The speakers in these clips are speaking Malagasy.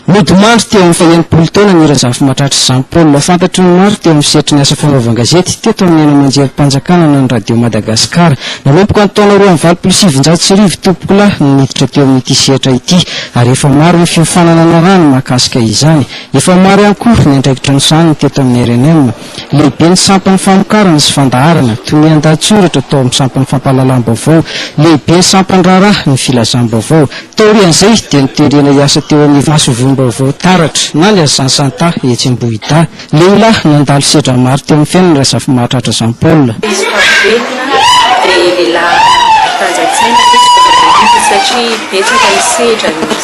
Nodimandry teo amin'ny faha-enimpolo taona ny Razafimahatratra Jean Paul. Fantatry ny maro teo amin'ny sehatry ny asa fanaovan-gazety teto amin'ny haino aman-jerim-panjakana na ny Radio Madagasikara. Nanomboka ny taona roa amby valopolo sy sivinjato sy arivo Tompokolahy no niditra teo amin'ity sehatra ity ary efa maro ny fiofanana niarahany mahakasika izany. Efa maro ihany koa ny andraikitra nosahaniny teto amin'ny rnm. Lehibe ny sampan'ny famokarana sy fandaharana, tonian-dahatsoratra tao amin'ny sampan'ny fampahalalam-baovao. Lehibe ny sampan'ny raharaha ny filazam-baovao. Taorian'izay dia noterena hiasa teo amin'ny masoivohom-baovao Taratra na ny Azansanta etsy Ambohidahy. Lehilahy nandalo sedra maro teo amin'ny fiainana Razafimahatratra Jean Paul. Izy fa velona dia lehilahy mpanjantsaina izy vao mahay hita satria betsaka ny sedra nisy.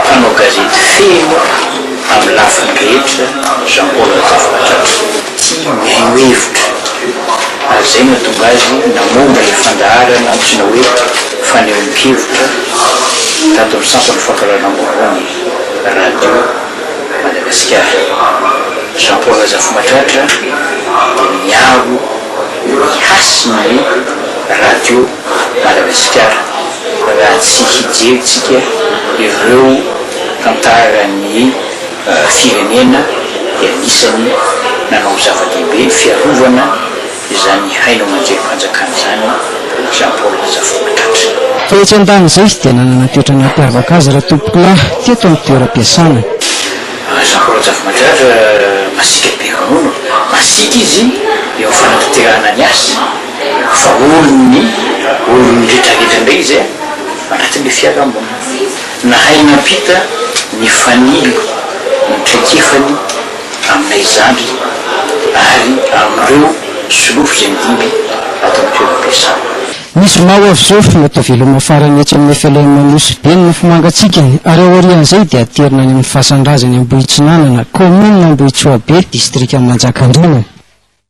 Mpanao gazety feno amin'ny lafiny rehetra Jean Paul Razafinatratra. Tsy miheno hevitra ary izay nahatonga azy namoaka ilay fandaharana antsoina hoe fanehoan-kevitra tato amin'ny sampan'ny fampahalalam-bahoany Radio Madagasikara. Jean Paul Razafinatratra dia niaro ny hasin'ny radio. Madagasikara raha tsy hijerintsika ireo tantaran'ny firenena dia anisany nanao zava-dehibe ny fiarovana izany haino aman-jerim-panjakana izany Jean Paul Razafimaatratra. Fa etsy an-danin'izay izy dia nanana toetra nampiavaka azy raha tompokolahy teto amin'ny toeram-piasana. Jean Paul Razafimaatratra masiaka be ronono, masiaka izy eo amin'ny fanatanterahana ny asa. Fa olon'ny olon'ny retraretra indray izy anatin'ilay fiarahamonina. Nahay nampita ny fanilo ny traikefany aminay zandry ary amin'ireo solofo izay nidimby ato amin'ny toeram-piasana. Ny zoma ho avy izao, mety ho veloma farany etsy amin'ny FLM Nosy Be ny mofomangatsiaka ary aorian'izay dia aterina any amin'ny fasan-drazany Ambohitsinanana, kaominina Ambohitsoabe, distrika Manjakandriana.